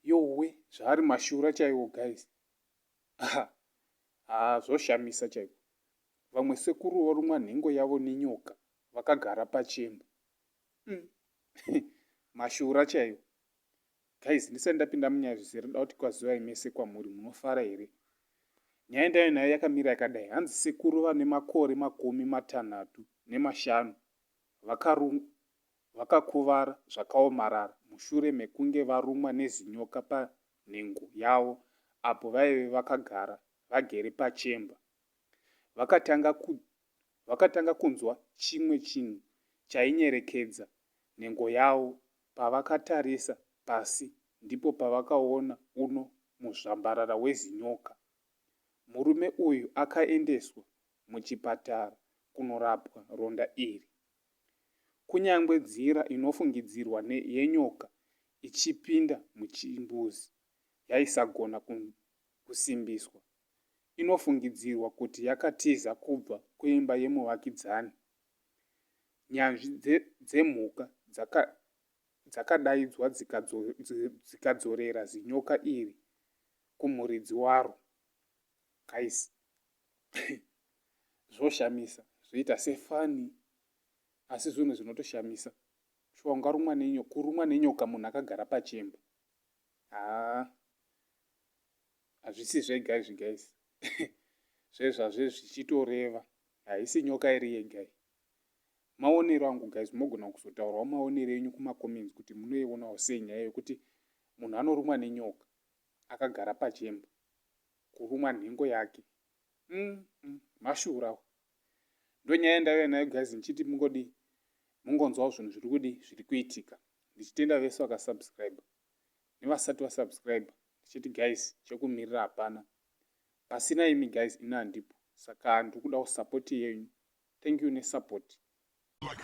yowe zvaari mashura chaiwo guys aha haa zvoshamisa chaiko vamwe sekuru vorumwa nhengo yavo nenyoka vakagara pachemba mm. mashura chaiwo Guys ndisati ndapinda munyaya zvese rinoda kuti kwazivai mese kwamuri munofara here nyaya ndayo nayo yakamira yakadai hanzi sekuru vane makore makumi matanhatu nemashanu vakarumwa vakakuvara zvakaomarara mushure mekunge varumwa nezinyoka panhengo yavo apo vaive vakagara vagere pachemba vakatanga ku vakatanga kunzwa chimwe chinhu chainyerekedza nhengo yavo Pavakatarisa pasi ndipo pavakaona uno muzvambarara wezinyoka. Murume uyu akaendeswa muchipatara kunorapwa ronda iri. Kunyangwe nzira inofungidzirwa ne yenyoka ichipinda muchimbuzi yaisagona kusimbiswa, inofungidzirwa kuti yakatiza kubva kuimba yemuvakidzani Nyanzvi dzemhuka dzaka, dzakadaidzwa dzikadzo, dzikadzorera zinyoka iri kumuridzi waro. Guys, zvoshamisa zvoita sefani asi zvinhu zvinotoshamisa shuwa ungarumwa nenyoka kurumwa nenyoka munhu akagara pachemba haa hazvisi zvega izvi guys zvezvazve zvichitoreva haisi nyoka iri yega iyi maonero angu guys mogona kuzotaurawo maonero enyu kumacomments kuti munoionawo sei nyaya yekuti munhu anorumwa nenyoka akagara pachemba kurumwa nhengo yake mm, mm, mashurawo ndonyaya ndaive nayo guys ndichiti mungodi mungonzwawo zvinhu zviri kudi zviri kuitika ndichitenda vese vakasubscribe nevasati va subscriber ndichiti guys chekumirira hapana pasina imi guys ini handipo saka ndikuda ku support yenyu thank you ne support like